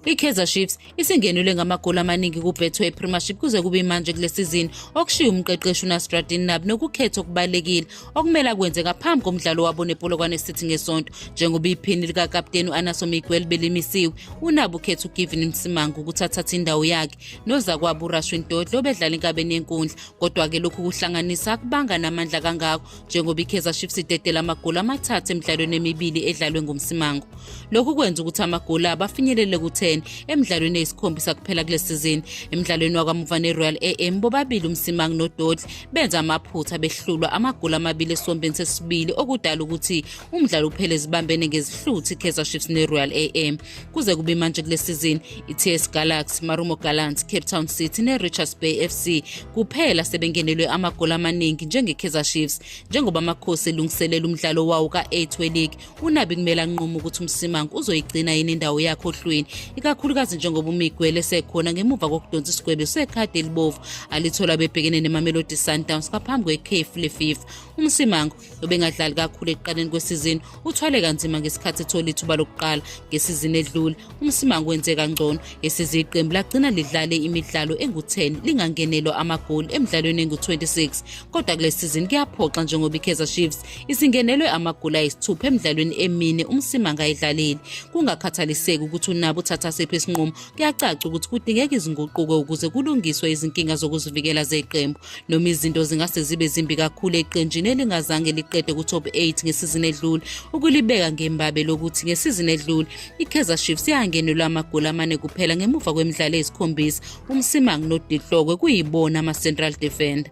I-Kaizer Chiefs isingenelwe ngamagoli amaningi ku-Betway Premiership kuze kube imanje kule sizini okushiya umqeqeshi uNasruddin Nabi nokukhetha okubalekile okumele akwenze ngaphambi komdlalo wabo nePolokwane City ngeSonto njengoba iphini likakapteni u-Anaso Miguel belimisiwe uNabi ukhetha uGivin Msimanga ukuthi athathe indawo yakhe nozakwabo uRashwin Dodle obedlala enkabeni yenkundla kodwa-ke lokhu kuhlanganisa akubanga namandla kangako njengoba ikaizer chiefs idedela amagoli amathathu emidlalweni emibili edlalwe ngumsimango lokhu kwenza ukuthi amagoli abafinyelele ku-10 emidlalweni eyisikhombisa kuphela kule sizini emidlalweni wakamuva ne-royal am bobabili umsimango nododli benza amaphutha behlulwa amagoli amabili esiwombeni sesibili okudala ukuthi umdlalo uphele zibambene ngezihluthi ikaizer chiefs ne-royal am Kuze kube manje kule sizini, iTS Galaxy, Marumo Gallants, Cape Town City neRichards Bay FC kuphela sebengenelwe amagoli amaningi njengeKaizer Chiefs njengoba amakhosi elungiselela umdlalo wawo ka-8 weLeague unabi kumele anqume ukuthi umsimango uzoyigcina yini indawo yakhe ohlwini ikakhulukazi njengoba umigwele sekhona ngemuva kokudonsa isigwebo sekhadi elibovu alithola bebhekene nemamelodi sundowns ngaphambi kwekhefu lefifa umsimango nobengadlali kakhulu ekuqaleni kwesizini uthwale kanzima ngesikhathi ethola ithuba lokuqala ngesizini edlule umsimango wenze kangcono esize iqembu lagcina lidlale imidlalo engu-10 lingangenelwa amagoli emidlalweni engu-26 kodwa kule sizini kuyaphoxa njengoba ikaizer chiefs isingenelwe amagoli ayisithupha emidlalweni emine umsimango ayidlalile kungakhathaliseki ukuthi unabo uthatha siphi isinqumo kuyacaca ukuthi kudingeka izinguquko ukuze kulungiswe izinkinga zokuzivikela zeqembu Noma izinto zingase zibe zimbi kakhulu eqenjini elingazange liqede ku-top 8 ngesizini edlule, ukulibeka ngembabe lokuthi ngesizini edlule iKaizer Chiefs yangenelwa amagoli amane kuphela ngemuva kwemidlalo eyisikhombisa, uMsimang noDihlokwe kuyibona ama-central defender.